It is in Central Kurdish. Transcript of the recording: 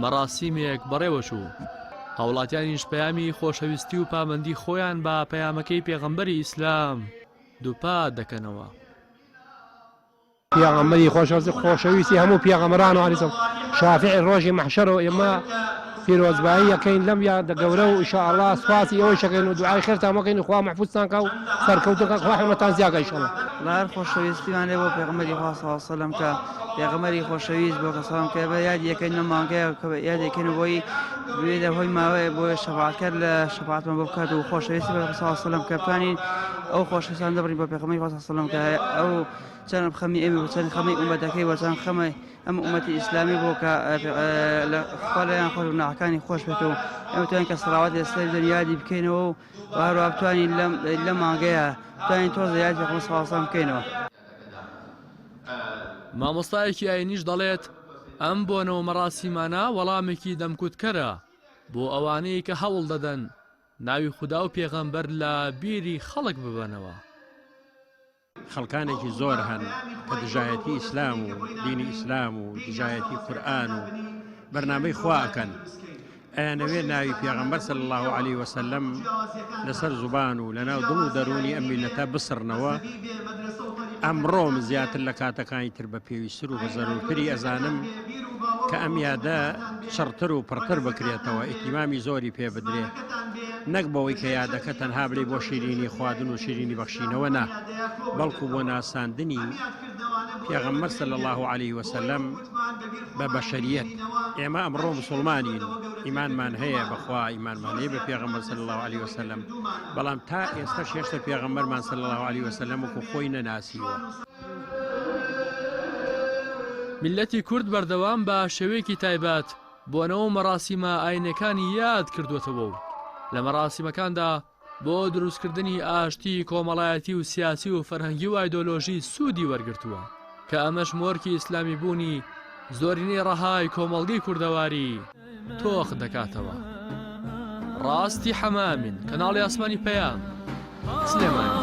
مەراسیمێک بەڕێوەچوو، هاوڵاتیانیش پەیامی خۆشەویستی و پامەندی خۆیان بە پەیامەکەی پێغەمبەری ئیسلام دووپات دەکەنەوە. پێغەمبەری خۆشەویست و خۆشەویستی هەموو پێغەمبەران و علی شافیعی ڕۆژی مەحشەر و ئێمە پیرۆزبایی ئەکەین لەم یادە گەورە و ئیشاڵڵا سوپاسی ئێوەیش ئەکەین و دوعای خێرتان بۆ ئەکەین و خوا مەحفوزتان کا و سەرکەوتوو کا خوا حەمەتان زیا کا ئیشاڵڵا. بەهەر خۆشەویستیمان لێ بۆ پێغەمبەری خوا صلی اللە علیە وسلم کا. پێغەمبەری خۆشەویست بۆ کە سەڵام کە بە یادی یەکەین لە مانگەیە کە بە یادی یەکەین بۆی بێ لە هۆی ماوەیە بۆیە شەفاعەتکار لە شەفاعەتمان بۆ بکات و خۆشەویست بە صلی الله علیه وسلم کە بتوانین ئەو خۆشەویستان دەبڕین بۆ پێغەمبەری خوا صلی الله علیه وسلم کە ئەو چەند خەمی ئێمە و چەند خەمی ئومەتەکەی و چەند خەمە ئەم ئومەتی ئیسلامی بۆ کە لە خوا لەیان خۆش و ناحەکانی خۆش بێت و ئەمە توانین کە سەڵاوات لەسەر دەن یادی بکەینەوە و هەروە بتوانین لەم لە مانگەیە توانین تۆزە یادی پێغەمبەر صلی الله علیه وسلم بکەینەوە مامۆستایەکی ئاینیش دەڵێت، ئەم بۆنە و مەراسیمانە وەڵامێکی دەمکوتکەرە بۆ ئەوانەی کە هەوڵ دەدەن ناوی خودا و پێغەمبەر لە بیری خەڵک ببەنەوە. خەڵکانێکی زۆر هەن کە دژایەتی ئیسلام و دینی ئیسلام و دژایەتی قورئان و بەرنامەی خوا ئەکەن، ئەیانەوێت ناوی پێغەمبەر صلی اللە علیە وسلم لەسەر زوبان و لەناو دڵ و دەروونی ئەم میللەتە بسڕنەوە ئەمڕۆم زیاتر لە کاتەکانی تر بە پێویستتر و بە زەرورتری ئەزانم کە ئەم یادە چڕتر و پڕتر بکرێتەوە ئیتیمامی زۆری پێ بدرێت نەک بەوەی کە یادەکە تەنها بری بۆ شیرینی خواردن و شیرینی بەخشینەوە نا بەڵکو بۆ ناساندنی پێغەمبەر صلی اللە علیه وسلم بە بەشەریەت ئێمە ئەمڕۆ مسلمانین ئیمانمان هەیە بەخوا ئیمانمان هەیە بە پێغەمبەر صلی الله عليه وسلم بەڵام تا ئێستا شێشتە پێغەمبەرمان صلی الله عليه وسلم وکو خۆی نەناسیوە میللەتی کورد بەردەوام بە شێوەیەکی تایبەت بۆنە و مەراسیمە ئاینیەکانی یاد کردووەتەوە و لە مەراسیمەکاندا بۆ دروستکردنی ئاشتی کۆمەڵایەتی و سیاسی و فەرهەنگی و ئایدۆلۆژی سوودی وەرگرتووە کە ئەمەش مۆرکی ئیسلامی بوونی زۆرینەی ڕەهای کۆمەڵگەی کوردەواری تۆخ دەکاتەوە. ڕاستی حەمامین کەناڵی ئاسمانی پەیام سلێمانی.